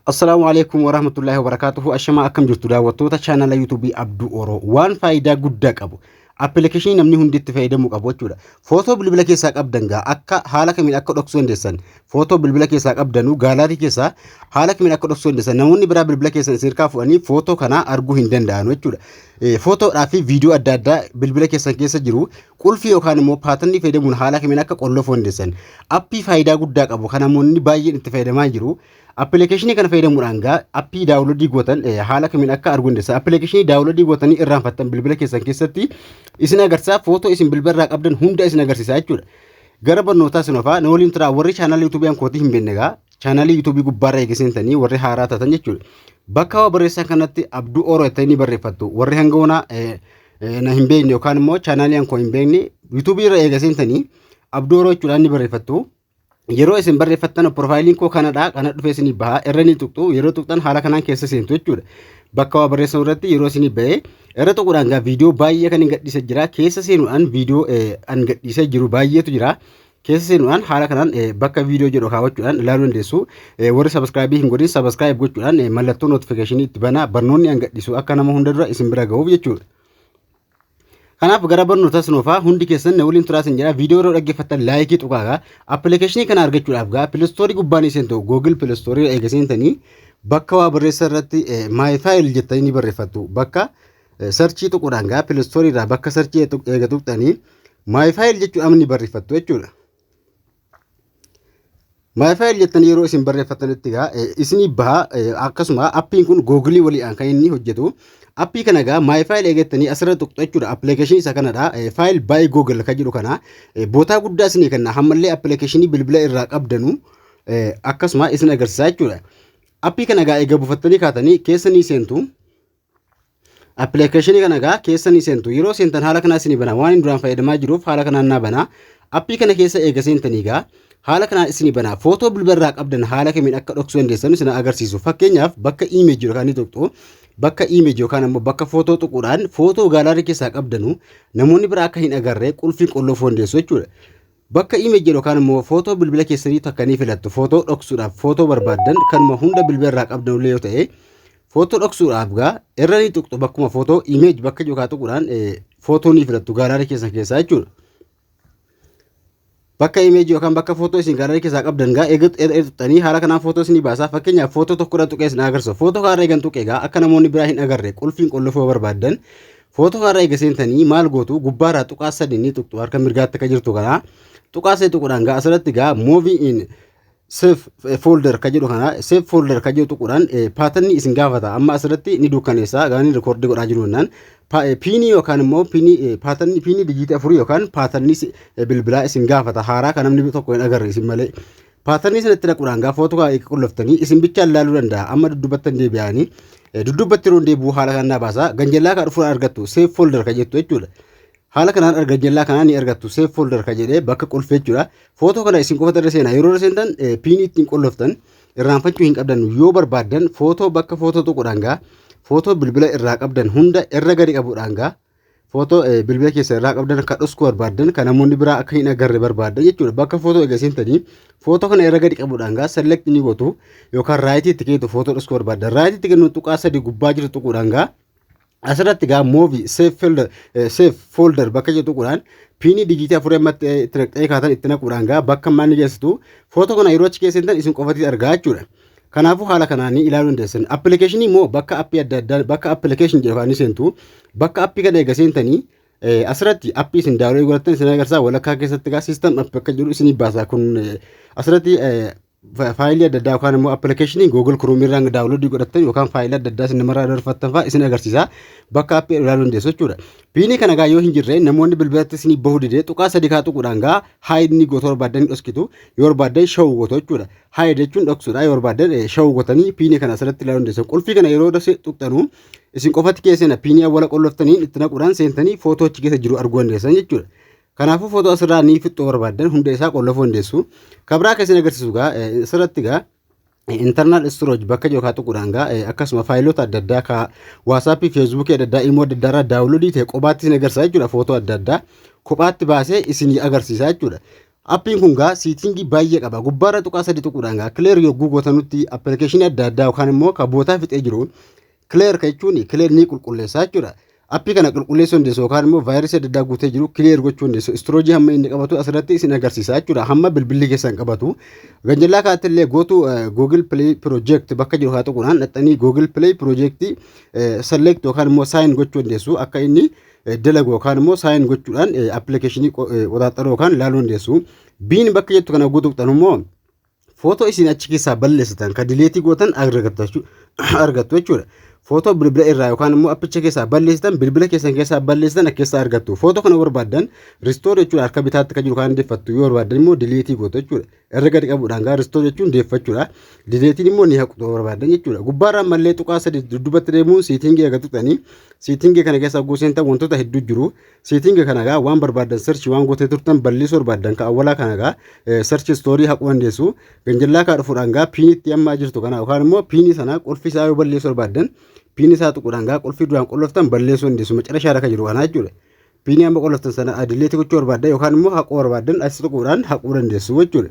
Assalaamu alaikum wa rahmatullahi wa barakaatuhu. Ashamaa akkam jirtu daawwattoota chaanala yuutuubii Abduu Oroo. Waan faayidaa guddaa qabu. Appilikeeshinii namni hundi itti fayyadamuu qabu jechuudha. Footoo bilbila keessaa qabdan gaa akka haala kamiin akka dhoksuu dandeessan. Footoo bilbila keessaa qabdanuu gaalaarii keessaa haala kamiin akka dhoksuu dandeessan. Namoonni biraa bilbila keessan isin irkaa fuudhanii footoo kanaa arguu hin danda'an jechuudha. Footoodhaa fi viidiyoo adda addaa bilbila keessan keessa jiru Qulfii yookaan immoo paatannii fayyadamuun haala kamiin akka qollofuu dandeessan appii faayidaa guddaa qabu kan namoonni baay'een itti fayyadamaa jiru. Appilikeeshinii kana fayyadamuudhaan gaa appii daawunloodii gootan eh, haala kamiin akka arguu dandeessan appilikeeshinii daawunloodii gootanii irraanfattan bilbila keessan keessatti isin agarsiisa footoo isin bilbila irraa qabdan hunda isin agarsiisa jechuudha. Gara barnootaa isin ofaa na waliin turaa warri chaanaalii yuutuubiyaan kootii hin beekne gaa chaanaalii yuutuubii gubbaarra eega seentanii warri haaraa taatan jechuudha. Bakka waa barreessan kanatti abduu ooroo jettanii ni barreeffattu. Warri hanga onaa na hin beekne yookaan immoo chaanaalii hankoo hin beekne yuutuubii irra eega seentanii abduu ooroo jechuudhaan ni barreeffattu. Yeroo isin barreeffattan piroofaayiliin koo kanadha kana dhufee isinii baha irra ni tuqxu yeroo tuqxan haala kanaan keessa seentu jechuudha. Bakka waa barreessan irratti yeroo isinii bahee irra tuquudhaan gaa viidiyoo baay'ee kan hin gadhiise jira keessa seenuudhaan viidiyoo an gadhiisee jiru baay'eetu jira. keessa seenuudhaan haala kanaan bakka viidiyoo jedhu kaawwachuudhaan ilaaluu dandeessu. Warri sabiskiraayibii hin godhin sabiskiraayib gochuudhaan mallattoo notifikashinii itti banaa barnoonni an gadhiisu akka nama hunda dura isin bira ga'uuf jechuudha. Kanaaf gara barnoota sinoofaa hundi keessan na waliin turaa isin jedha viidiyoo yeroo dhaggeeffattan laayikii tuqaagaa appilikeeshinii kana argachuudhaaf gaa pilistoorii gubbaan isin ta'u googil pilistoorii eega seentanii bakka waa barreessa irratti maayi faayil jettanii ni barreeffattu bakka Sarchii tuqudhaan gaa pilistoorii irraa bakka sarchii eega tuqxanii maayifaayil jechuun amni barreeffattu jechuudha. Maayifaayil jettanii yeroo isin barreeffattanitti gaa isinii baha akkasuma appiin kun googilii waliidhaan kan inni hojjetu. Appii kana gaa maayifaayil eegattanii asirra tuqxu jechuudha. Appilikeeshinii isa kanadha. Faayil baay'ee googil kan jedhu kana bootaa guddaa isinii kenna. Hammallee appilikeeshinii bilbila irraa qabdanu akkasuma isin agarsiisa jechuudha. Appii kana gaa eega buufattanii kaatanii keessa ni seentu. Appilikeeshinii kana egaa keessa ni seentu. Yeroo seentan haala kanaa isinii banaa. Waan inni duraan fayyadamaa jiruuf haala kanaan naa banaa. Appii kana keessa eega seentanii egaa haala kanaan isinii banaa. Footoo bilbila irraa qabdan haala kamiin akka dhoksuu dandeessan isin agarsiisu. Fakkeenyaaf bakka image yookaan ni tuqxu. Bakka image yookaan ammoo bakka footoo tuquudhaan footoo gaalaarii keessaa qabdanu namoonni biraa akka hin agarre qulfiin qollofuu dandeessu jechuudha. Bakka image jedhu yookaan immoo footoo bilbila keessanii takka ni filattu. Footoo dhoksuudhaaf footoo barbaaddan kanuma hunda bilbila irraa qabdan illee yoo ta'e footoo dhoksuudhaaf gaa irra ni tuqxu bakkuma footoo image bakka jiru kaa tuquudhaan footoo ni filattu gaalaarii keessan keessaa jechuudha. Bakka image yookaan bakka footoo isin gaalaarii keessaa qabdan gaa eega tuqxanii haala kanaan footoo isin baasaa fakkeenyaaf footoo tokko irra tuqee isin agarsiisa. Footoo kaarra eegan tuqee gaa akka namoonni biraa hin agarre qulfiin qollofoo barbaaddan Footoo haaraa eega seentanii maal gootu gubbaarraa tuqaa sadii ni tuqxu harka mirgaatti akka jirtu kana tuqaa sadii tuquudhaan gaa asirratti gaa movie in safe folder ka jedhu kana safe folder ka jedhu tuquudhaan paatanni isin gaafata amma asirratti ni dukkaneessa gaanii rikoordii godhaa jiru jennaan piinii yookaan immoo piinii paatanni piinii dijiitii afurii yookaan paatanni bilbilaa isin gaafata haaraa kan namni tokko hin agarre isin malee Paatarnii sanatti dhaquudhaan gaafa waan tokko eega qulloftanii isin bichaan laaluu danda'a. Amma duddubattan deebi'anii duddubbatti yeroo deebi'u haala kanaan naa baasa. Ganjallaa kaa dhufuudhaan argattu save folder ka jettu jechuudha. Haala kanaan arga ganjallaa kanaa ni argattu save folder ka jedhee bakka qulfee jechuudha. Footoo kana isin qofatti irra seenaa yeroo irra seentan piinii ittiin qulloftan irraanfachuu hin qabdan yoo barbaaddan footoo bakka footoo tuquudhaan gaa footoo bilbila irraa qabdan hunda irra gadi qabuudhaan gaa Footoo bilbila keessa irraa qabdan akka dhosku barbaaddan kan namoonni biraa akka hin agarre barbaaddan jechuudha. Bakka footoo egaa seentanii footoo kana irra gadi qabuudhaan gaa select ni gootu yookaan raayitii itti kennitu footoo dhosku barbaaddan. Raayitii itti kennu tuqaa sadii gubbaa jiru tuquudhaan gaa asirratti gaa moovi seef foolder bakka jedhu tuquudhaan piinii dijiitii afurii amma itti naqxanii kaatan itti naquudhaan gaa bakka maal ni geessitu footoo kana yeroo achi keessa seentan isin qofatti argaa jechuudha. Kanaafuu haala kanaan ni ilaaluu dandeessan. Appilikeeshinii immoo bakka appii adda addaa bakka appilikeeshin jedhu kan seentu bakka appii kana eega seentanii asirratti appii isin daawwee godhatan isin agarsiisa walakkaa keessatti egaa siistam appii akka jedhu isin baasa kun asirratti faayilii adda addaa yookaan immoo appilikeeshinii Google Chrome irraa daawunloodii godhatan yookaan faayilii adda addaa isin namarraa dabarfattan fa'aa isin agarsiisa bakka appii ilaaluu dandeessu jechuudha. Piinii kana gaa yoo hin jirre namoonni bilbilatti isin bahuu didee tuqaa sadii kaa tuquudhaan gaa haayidni goota barbaaddan hin dhoskitu yoo barbaaddan shawuu goota jechuudha. Haya jechuun dhoksuudha yoo barbaaddan shawuu gotanii piinii kana asirratti ilaaluu dandeessan. Qulfii kana yeroo dase tuqxanu isin qofatti keessana piinii awwala qolloftaniin itti naquudhaan seentanii footoo achi keessa jiru arguu dandeessan jechuudha. Kanaafuu footoo asirraa ni fixxuu barbaaddan hunda isaa qollofuu dandeessu. Kabraa keessan agarsiisu gaa asirratti gaa internal storage bakka jiru kaa tuquudhaan gaa akkasuma faayiloota adda addaa kaa waasaappii feesbuukii adda addaa imoo adda addaa irraa daawunloodii ta'e qobaatti isin agarsiisa jechuudha footoo adda addaa kophaatti baasee isin agarsiisa jechuudha. Appiin kun gaa siitingii baay'ee qaba. Gubbaarra tuqaa sadi tuquudhaan gaa kileer yogguu gootanutti appilikeeshinii adda addaa yookaan immoo kan bootaa fixee jiru kileer ka jechuun kileer ni qulqulleessaa jechuudha. Appii kana qulqulleessuu dandeessu yookaan immoo vaayirasii adda addaa guutee jiru kileer gochuu dandeessu. Istiroojii hamma inni qabatu asirratti isin agarsiisa jechuudha. Hamma bilbilli keessan qabatu. Ganjallaa kaatti illee gootu Google Play Project bakka jiru haa tuquudhaan dhaxxanii Google Play Project select yookaan immoo sign gochuu dandeessu akka inni dalagu yookaan immoo saayin gochuudhaan appilikeeshinii qoxaaxaruu yookaan ilaaluu dandeessu. Biin bakka jettu kana guutuu qabxan immoo footoo isin achi keessaa balleessitan kan dileetii gootan argattu jechuudha. Footoo bilbila irraa yookaan immoo appicha keessaa balleessitan bilbila keessan keessaa balleessitan keessaa argattu. Footoo kana barbaaddan ristoor jechuudha harka bitaatti kan jiru kan deeffattu yoo barbaaddan immoo dileetii gootu jechuudha. Irra gadi qabuudhaan gaa restore jechuun deeffachuudha. Dileetiin immoo ni haqxu yoo barbaaddan jechuudha. Gubbaarraan mallee tuqaa sadii dudduubatti deemuun siitingii eega tuqxanii siitingii kana keessa hogguu seentan wantoota hedduu jiru. Siitingii kana gaa waan barbaaddan search waan gootee turtan balleessuu barbaaddan ka awwalaa kana gaa eh, search story haquu dandeessu. Ganjallaa kaa dhufuudhaan gaa piinitti ammaa jirtu kana yookaan immoo piinii sana qulfii isaa yoo balleessuu barbaaddan piinii isaa tuquudhaan gaa qulfii duraan qulloftan balleessuu dandeessu. Macarashaa irra kan jiru kana jechuudha. Piinii amma qoloftan sana adileetti gochuu barbaaddan yookaan immoo haquu barbaaddan achi tuquudhaan haquu dandeessu jechuudha.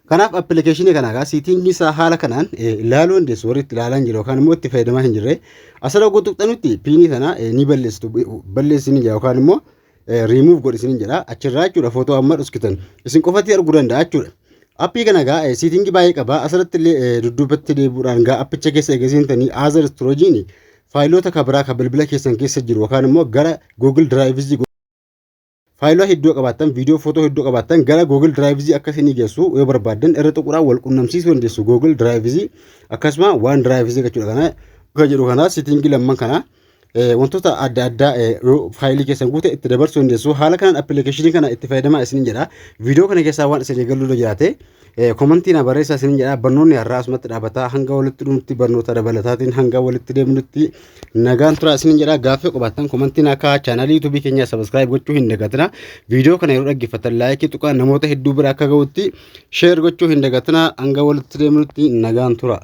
Kanaaf appilikeeshinii kana egaa siitingii isaa haala kanaan ilaaluu dandeessu warri itti ilaalaa hin jirre yookaan immoo itti fayyadamaa hin jirre asirra oguu tuqxanutti piinii sana ni balleessitu balleessi ni jedha yookaan immoo riimuuf godhi isin jedha achirraa jechuudha footoo amma dhuskitan isin qofatti arguu danda'a jechuudha. Appii kana egaa siitingii baay'ee qaba asirratti illee dudduubatti deebi'uudhaan egaa appicha keessa eegasiintanii aazar istiroojiin faayiloota ka biraa ka bilbila keessan keessa jiru yookaan immoo gara Google Drives faayilota hedduu qabaattan viidiyoo footoo hedduu qabaattan gara Google Drives akka isinii geessu yoo barbaaddan irra tuquudhaan wal qunnamsiisuu dandeessu Google Drives akkasuma waan Drives jechuudha kana akka jedhu kana sitingii lamman kana wantoota adda addaa faayilii keessan guute itti dabarsuu dandeessu haala kanaan appilikeeshinii kana itti fayyadamaa isin jedha viidiyoo kana keessaa waan isin eegaluu jiraate Komantii na barreessaa isinin jedha barnoonni har'aa asumatti dhaabataa hanga walitti dhumti barnoota dabalataatiin hanga walitti deemnutti nagaan turaa isinin jedha gaaffii qabaattan komantii na kaa'aa chaanaalii yuutuubii keenyaa sabiskiraayib gochuu hin dagatina viidiyoo kana yeroo dhaggeeffattan laayikii tuqaa namoota hedduu bira akka ga'utti sheer gochuu hin dagatina hanga walitti deemnutti nagaan turaa.